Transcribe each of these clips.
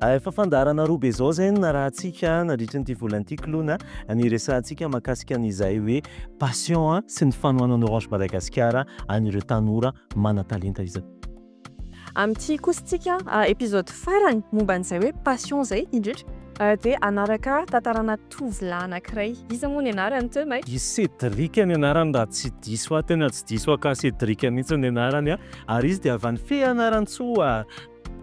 Efa fandaharana roa be zao zay no narahantsika nandritry ny ity volana ity klona a, ny resahantsika mahakasika an' izay hoe passion a sy ny fanohanan'i Orange Madagasikara an'ireo tanora manan-talenta izay. Amin'ity kosa tsika episode farany momba an'izay hoe passion zay indrindra dia hanaraka tantarana tovolahy anankiray, iza moa ny anarany teo mai? I Cédric ny anarany raha tsy diso ahy, tena tsy diso ahy ka Cédric mihitsy ny anarany a, ary izy dia avy any Feanarantsoa.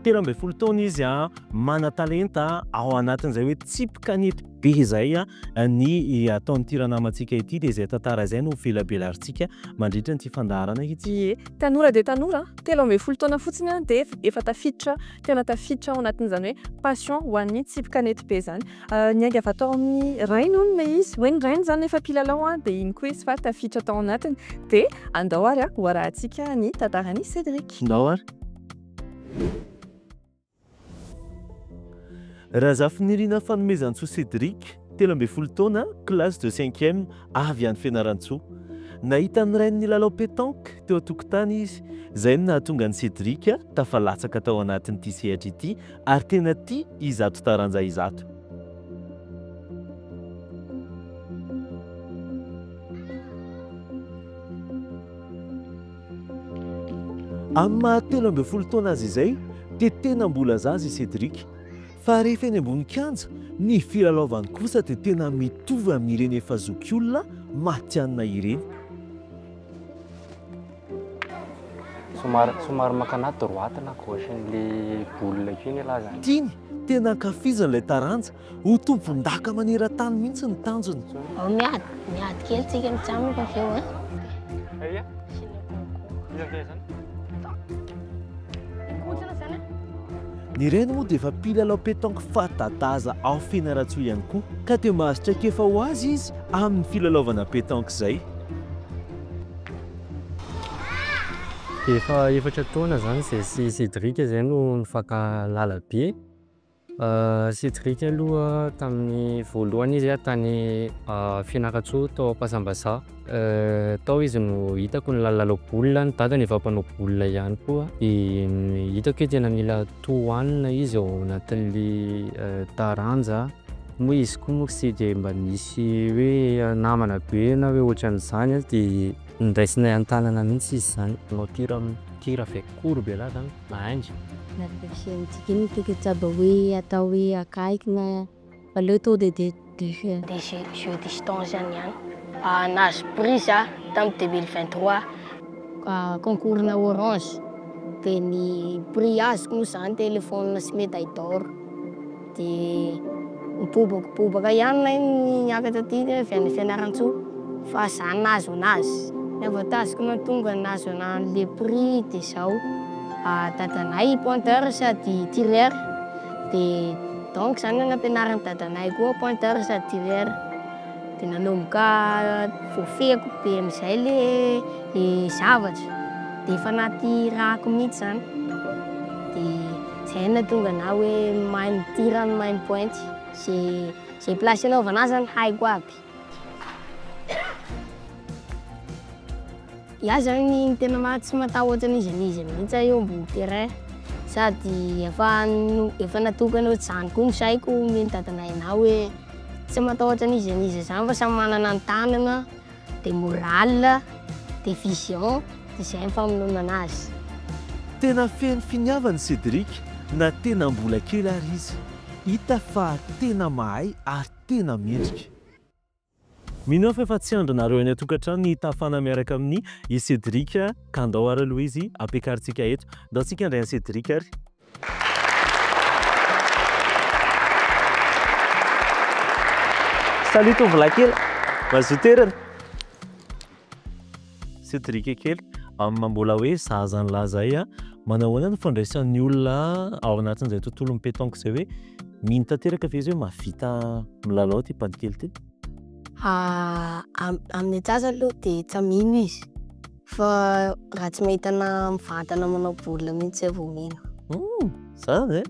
Telo ambin'ny folo taona izy, manan-talenta ao anatin'izay hoe tsipy kanety be izay. Ny ataon'ity ranamantsika ity dia izay tantara izay no velabelarintsika mandritra an'ity fandaharana ity. Ie, tanora dia tanora, telo ambin'ny folo taona fotsiny dia efa tafiditra, tena tafiditra ao anatin'izany hoe passion ho an'ny tsipy kanety be izany. Niainga avy ato amin'ny rainy hono ilay izy, hoe ny rainy izany efa mpilalao dia iny koa izy fa tafiditra tao anatiny. Dia andao ary hoarahantsika ny tantaran'i Cédric. Ndao ary. Razafinirina Fanomezantsoa Cédric, telo ambin'ny folo taona, classe de cinquième, avy any Fianarantsoa. Nahita ny rainy nilalao pétanque teo an-tokotany izy, izay no nahatonga an'i Cédric tafalatsaka tao anatin'ity sehatra ity ary tena tia izato taranja izato. Amin'ny maha telo ambin'ny folo taona azy izay dia tena mbola zaza i Cédric. Fa rehefa eny ambony kianja, ny filalaovany kosa dia tena mitovy amin'ireny efa zokiolona matihanina ireny. Somary somary mankana droite na gauche an'ilay boule io ny lazany. Tiany, tena ankafiziny ilay taranja Ho tompondaka maneran-tany mihitsy ny tanjony. Ao miady, miady kely tsika mijanona avy eo eh. Aia? Ny reny moa dia efa mpilalao pétanque fanta-daza ao Fianarantsoa ihany koa, ka dia mahazo traikefa ho azy izy amin'ny filalaovana pétanque izay. Efa efatra taona izany izay sy Cédric izay no nifankahalala be. Cédric aloha tamin'ny voalohany izy a tany Fianarantsoa tao Ampasambazaha. Tao izy no hitako ny lalao baolina, ny dadany efa mpanao baolina ihany koa. Dia hitako hoe tena mila tohanina izy ao anatin'ny taranja. Moa izy koa moa tsy dia mba nisy hoe namana be na hoe ohatran'izany dia ndraisinay an-tanana mihitsy izy izany. Tir, tir avec courbe là zany. Mahangy. Nareo tia mitsika iny ny toko tsaba hoe atao hoe akaiky na aleo to de de de de je je distance zany ihany. Ah nahazo prix za tam deux mille vingt trois. Ah concours na orange de ny prix azoko moa zany telephone sy medaille d'or. Dia mibobakibobaka ihany ilay niakatra aty dia avy any Fianarantsoa fa za nahazo anazy. Ny avantage-ko nahatonga nahazo anah le prix dia zao, dadanay i pointeur sady tireur dia donc zany no nampianarin'i dadanay koa pointeur sady tireur dia nanomboka voafehiko be amizay le zavatra dia efa anaty ràko mihitsy zany dia. Zen tonga na hoe mahay midira no mahay mipointy. Ze ze place anaovana azy zany haiko aby. Iah zany tena ma tsy mataho ohatra an'iza n'iza mihitsy aho eo ambony terrain sady efa no efa natokana ohatr'izany koa ny saiko homen'i dadanay anah hoe tsy matahotra an'iza n'iza zany fa samy manana ny tanana dia morale, dia vision, dia izay ny famonoana azy. Tena feno finiavana i Cédric na tena mbola kely ary izy. Hita fa tena mahay ary tena mendrika. Mino aho fa efa tsy andrinareo any an-tokantrano ny hitafana miaraka amin i Cédric ka ndao ary aloha izy ampiakarintsika eto. Ndao tsika handray an'i Cédric ary. Salut tovolahy kely, mazoto erana. Cedric kely, amin'ny mbola hoe zaza an'la zay a, manao ahoana ny fandraisan'ny olona ao anatin'izay tontolon'ny petanque izay hoe mino tanteraka ve izy hoe mahavita milalao ity mpandikely ity? Amin'ny atsasany aloha dia efa mino izy. Fa raha tsy mahita na mivantana manao baolina mihitsy zay vao mino. Hum, zany ve?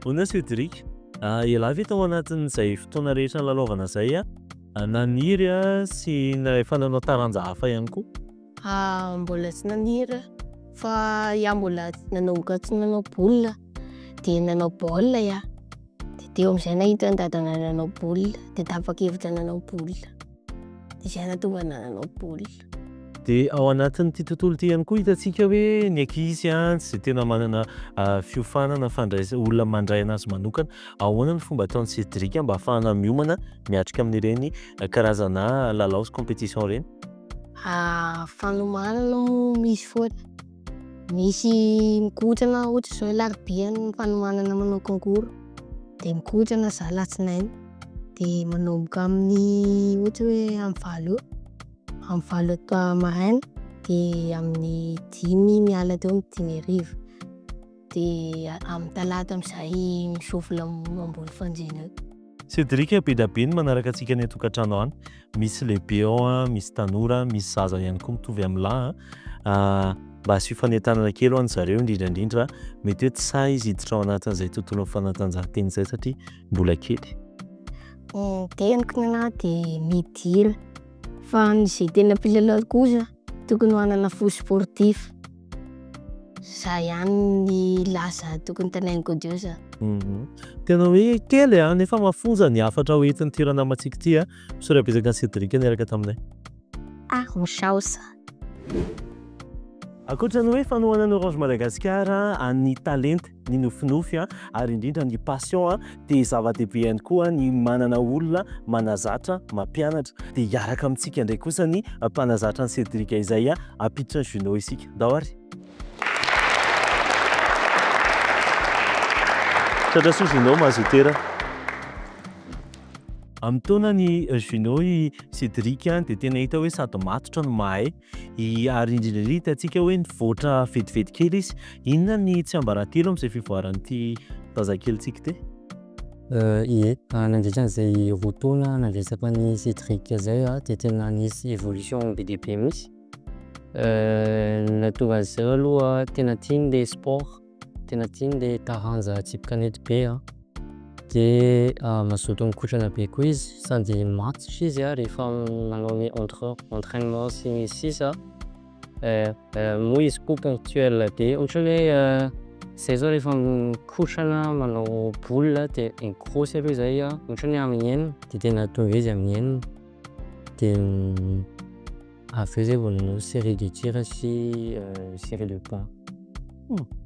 Hono Cédric, ialahy ve tao anatin'izay fotoana rehetra nilalaovana izay naniry sy efa nanao taranja hafa ihany koa? Ah, mbola tsy naniry aho. Fa iah mbola nanomboka tsy nanao baolina dia nanao baolina iah. Dia teo amin'izay nahita an'i dadanay nanao baolina dia tapa-kevitra nanao baolina. izay nahatonga anah nanao baolina. Dia ao anatin'ity tontolo ity ihany koa hitantsika hoe ny ankizy tsy dia tena manana fiofanana fandraisana, olona mandray anazy manokana. Ahoana ny fomba ataon'i Cédric mba hahafahana miomana miatrika amin'ireny karazana lalao sy compétition ireny? Fanomanana moa misy foana. Misy mikotrana ohatra zao alarobia ny fanomanana manao concours de mikotrana za latsinainy de manomboka amin'ny ohatra hoe amin'ny valo eo amin'ny valo atoa maraina de amin'ny dimy miala teo amin'ny dimy hariva. Dia amin'ny talata amin'izay misôfo lamôna ambony fanjina eo. Cédric, be dia be ny manaraka antsika any an-tokantrano any. Misy lehibe ao, misy tanora, misy zaza ihany koa mitovy amin'ny lahy. Ah, mba asio fanentanana kely ho an'ny zareo indrindra indrindra. Mety hoe tsy sahy izy hiditra ao anatin'izay tontolon'ny fanatanjahantena izay satria mbola kely. Ny teniko ny anahy dia midila. Fa ny izay tena mpilalao kosa Tokony ho hanana fo sportif. Zay ihany ny laza tokony tanainin'i Godio za. Tena hoe kely a, nefa mafonja ny hafatra ho entin'ity ranamantsika ity a. Misaotra betsaka an'i Cédric niaraka taminay. Ah, misaotra. Ankoatra ny hoe fanohanan'ny Orange Madagascar an'ny talenta. ny nofinofy ary indrindra ny passion dia zava-dehibe ihany koa ny manana olona manazatra mampianatra dia hiaraka amintsika indray kosa ny mpanazatra ny Cedric izay hampiditra ny Juno isika ndao ary tratra soa Juno mazotera amin'ny taona ny Juno i Cedric dia tena hita hoe sady matotra no mahay Ary indrindra indrindra hitantsika hoe nivoatra vetivety kely izy. Inona ny tsiambaratelo amin'izay fivoaran'ity zazakelintsika ity? Ie, nandritra an'izay roa taona nandresako an'i Cédric izay dia tena nisy évolution be dia be mihitsy. Ny nahatonga an'izay aloha tena tiany ilay sport. Tena tiany le taranja tsipy kanety be a, de mazoto mikotrana be koa izy sady matotra izy a rehefa manao ny entre entrainement sy ny sisa moa izy koa ponctuel be ohatran'ny hoe zay zao rehefa mikotrana manao boule de migrosy aloha zay a ohatran'ny hoe amin'ny enina de tena tonga izy amin'ny enina de Avy eo izay vao nanao série de tir sy série de pas.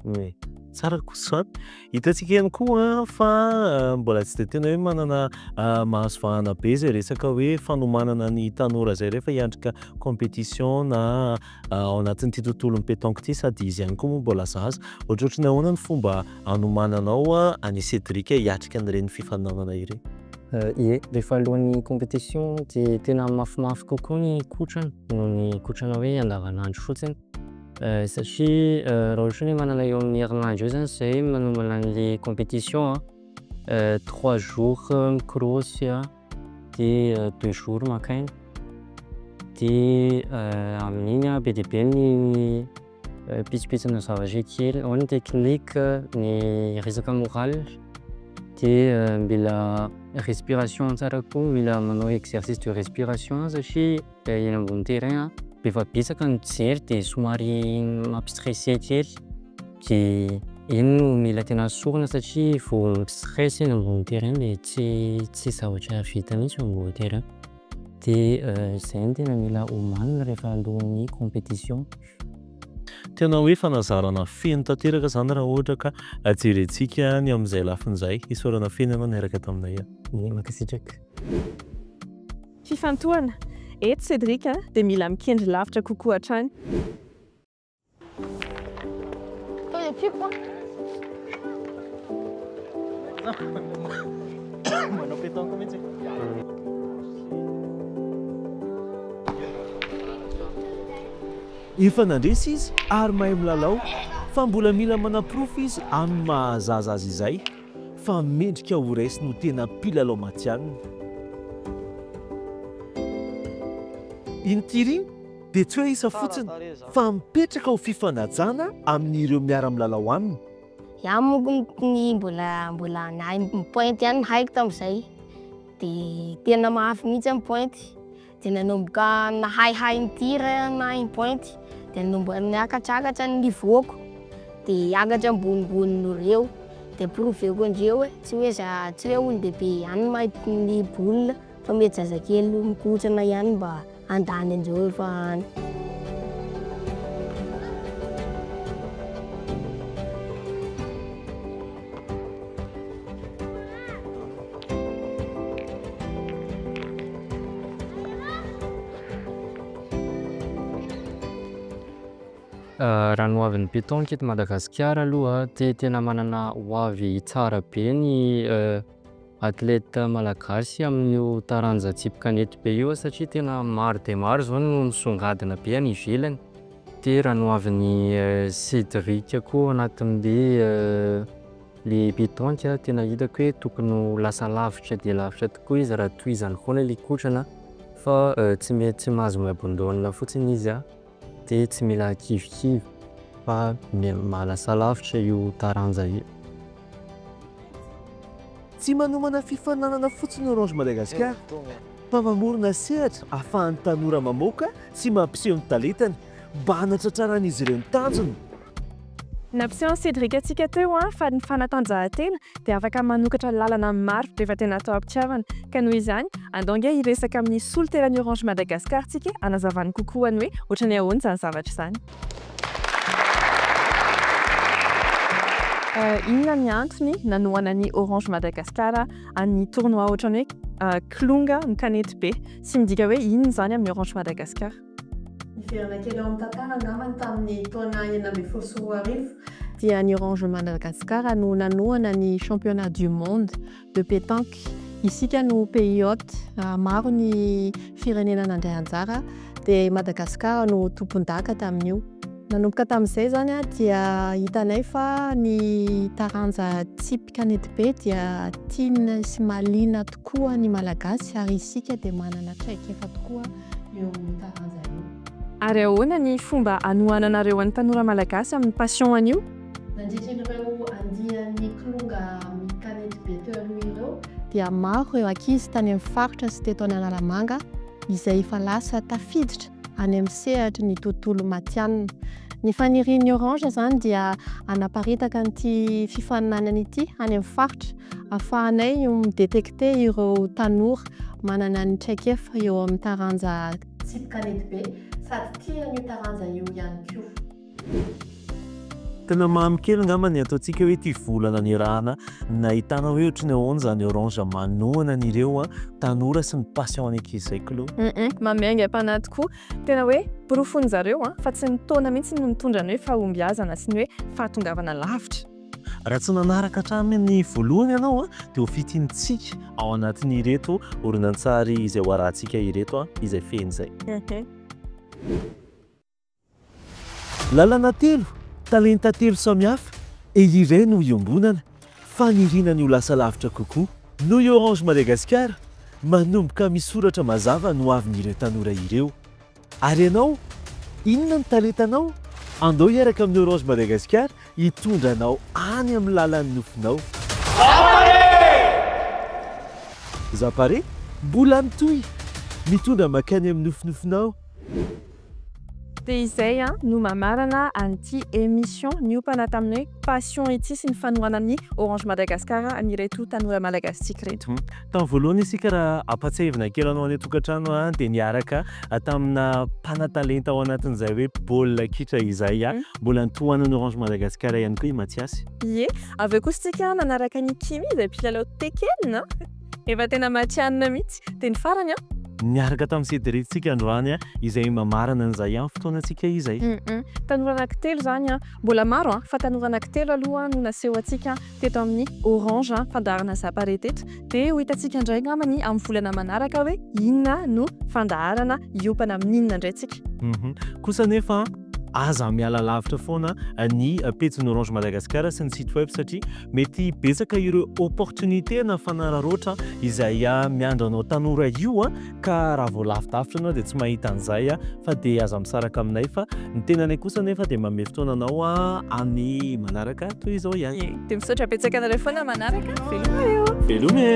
Oe, tsara kosa izany. Hitantsika ihany koa fa mbola tsy dia tena hoe manana mahazo vahana be izay resaka hoe fanomanana ny tanora izay rehefa hiatrika compétition na ao anatin'ity tontolon'ny pétanque ity sady izy ihany koa moa mbola zaza. Ohatrohatry ny ahoana ny fomba hanomananao an'i Cédric hiatrika an'ireny fifaninanana ireny? Ie, rehefa alohan'ny compétition dia tena mafimafy kokoa ny kotrana noho ny kotrana hoe andavanandro fotsiny satria raha ohatra hoe manana eo amin'ny herinandro eo zany zay manombana an'le compétition an, trois jours mikorosy an, de deux jours maka aina, de amin'iny an be dia be ny. pitsopitsona zavatra kely ao ny technique ny resaka moral de euh, mila respiration tsara koa mila manao exercice de respiration satria eh, eny ambony terrain a efa betsaka ny mpijery de somary mampistresse kely de iny no mila tena sorona satria vao mistresse eny ambony terrain de tsy tsy zavatra vita mihitsy eo ambony terrain Dia izay no tena mila omanina rehefa alohan'ny competition. Tena hoe fanazarana feno tanteraka izany raha ohatra ka jerentsika ny amin'izay lafiny izay. Isaorana feno ianao niaraka taminay an. Ie, mankasitraka. Fifantohana! Eto Cédric dia mila mikendry lavitra kokoa hatrany. Efa nandresy izy ary mahay milalao fa mbola mila manaporofo izy amin'ny maha-zaza azy izay fa mendrika ho raisiny ho tena mpilalao matihanina. Inty ry. dia tsy hoe isa fotsiny fa mipetraka ho fifanajana amin ireo miara milalao aminy. Iah monko ny mbola mbola nahay mipointe ihany ny haiko tamzay de tena mafy mihitsy aho mipointe de nanomboka nahay hay mi-tir nahay mipointe de nanomboka niakatrakatra ny niveau ko de hiakatra ambonimbony noho ireo de prouver-ko andreo hoe tsy hoe za tsy hoe olon-dehibe ihany mahay mi-boule Fa mety zazakely mikontsana ihany mba handany an'izao efa any. Raha ny hoavin'ny pétanque eto Madagasikara aloha dia tena manana hoavy tsara be ny Athlète malagasy amin'io taranja tsipy kanety be io satria tena maro dia maro izao no misongadina be any ivelany. Dia raha nohavin'i Cédric koa anatin'le le pétanque tena hitako hoe tokony ho lasa lavitra dia lavitra tokoa izy raha tohizany foana le kotrana fa tsy mety tsy mahazo mi-abandonne fotsiny izy a. Dia tsy mila kivikivy fa mahalasa lavitra io taranja io. Tsy manomana fifaninanana fotsiny Orange Madagascar fa mamorona sehatra ahafahan'ny tanora mamoaka sy mampiseho ny talentany mba hanatratraran'izy ireo ny tanjony. Nampiseho an'i Cédric antsika teo fa ny fanatanjahantena dia afaka manokatra lalana maro rehefa tena atao am-pitiavana. Ka noho izany, andao ange hiresaka amin'ny solontenan'ny Orange Madagascar tsika hanazavany kokoa ny hoe ohatran'ny ahoana izany zavatra izany. Inona ny antony nanohanan'ny Orange Madagascar an'ny tournoi ohatran'ny hoe kilonga ny kanetibe sy midika hoe inona izany amin'ny Orange Madagascar? Niverina kely ao amin'ny tantara angamba ny tamin'ny taona enina ambin'ny folo sy roa arivo, dia ny Orange Madagascar no nanohana ny Championnat du Monde de Petanque, isika no pays hôte, maro ny firenena nandray anjara dia i Madagascar no tompondaka tamin'io. Nanomboka tamin'izay izany dia hitanay fa ny taranja tsipy kanety be dia tiana sy mahaliana tokoa ny Malagasy ary isika dia manana traikefa tokoa. eo taranja eo. Ary ahoana ny fomba hanohananareo an'ny tanora malagasy amin'ny passion an'io? Nandritra ireo andiany Kilonga mikanety be teo aloha ireo, dia maro ireo ankizy tany amin'ny faritra sy teto Analamanga izay efa lasa tafiditra any amin'ny sehatry ny tontolo matianina. Ny fanirian'ny Orange izany dia hanaparitaka an'ity fifaninanana ity any amin'ny faritra afahanay mi-detecter ireo tanora manana ny traikefa eo amin'ny taranja Tsipy kanety be sady tia an'io taranja io ihany koa. Tena mamy kely angamba ny ataontsika hoe ity vola nanirahana nahitana hoe ohatry ny ahoana izany orange manohana an'ireo tanora sy ny passion any ankizy izay klou. Hum mamy aingam-panahy tokoa. Tena hoe porofon'ny zareo fa tsy ny taona mihitsy no mitondra ny hoe fahombiazana sy ny hoe fahatongavana lavitra. Raha tsy nanaraka hatramin'ny voalohany ianao dia ho fitintsika ao anatin'ireto horonantsary izay hoarahantsika ireto izay fehiny izay. Lalana telo, talenta telo samihafa, eo iray no iombonana, faniriana ny ho lasa lavitra kokoa. Noho i Orange Madagascar, manomboka misoratra mazava ny hoavin'ireo tanora ireo. Ary ianao? Inona ny talentanao? Andao hiaraka amin'ny Orange Madagascar hitondra anao any amin'ny lalan'ny nofinao. Zapare! Mbola mitohy! Mitondra makany amin'ny nofinofinao. Dia izay an no mamarana an'ity emission niompana tamin'ny hoe passion ity sy ny fanohanan'ny Orange Madagascar an'ireto tanora Malagasitsika ireto. Tamin'ny voalohany isika raha ampatsiahivina kely anao any an-tokantrano a dia niaraka tamina mpanatalenta ao anatin'izay hoe baolina kitra izay a, mbola nitohanan'ny Orange Madagascar ihany koa i Mathiasy. Ie, avy eo kosa isika nanaraka an'i Kimmy izay mpilalao Tekken a, efa tena matihanina mihitsy, dia ny farany a. Niaraka tamin'i Cédric tsika androany a, izay mamarana an'izay ihany fotoanantsika izay. Tanora anankitelo izany a, mbola maro a, fa tanora anankitelo aloha no naseho antsika teto amin'ny Orange an, fandaharana Zapare teto, dia ho hitantsika indray angamba ny amin'ny volana manaraka hoe inona no fandaharana hiompana amin'inona indray tsika. Kosa anefa aza miala lavitra foana ny pejin'ny Orange Madagascar sy ny site web satria mety betsaka ireo opportunité na fanararaotra izay miandry anao tanora io an! ka raha vao lavidavitra anao dia tsy mahita an'izay a, fa dia aza misaraka aminay fa ny tenanay kosa anefa dia manome fotoana anao amin'ny manaraka toy izao ihany. Dia misaotra betsaka anareo foana manaraka, veloma eo. Veloma e.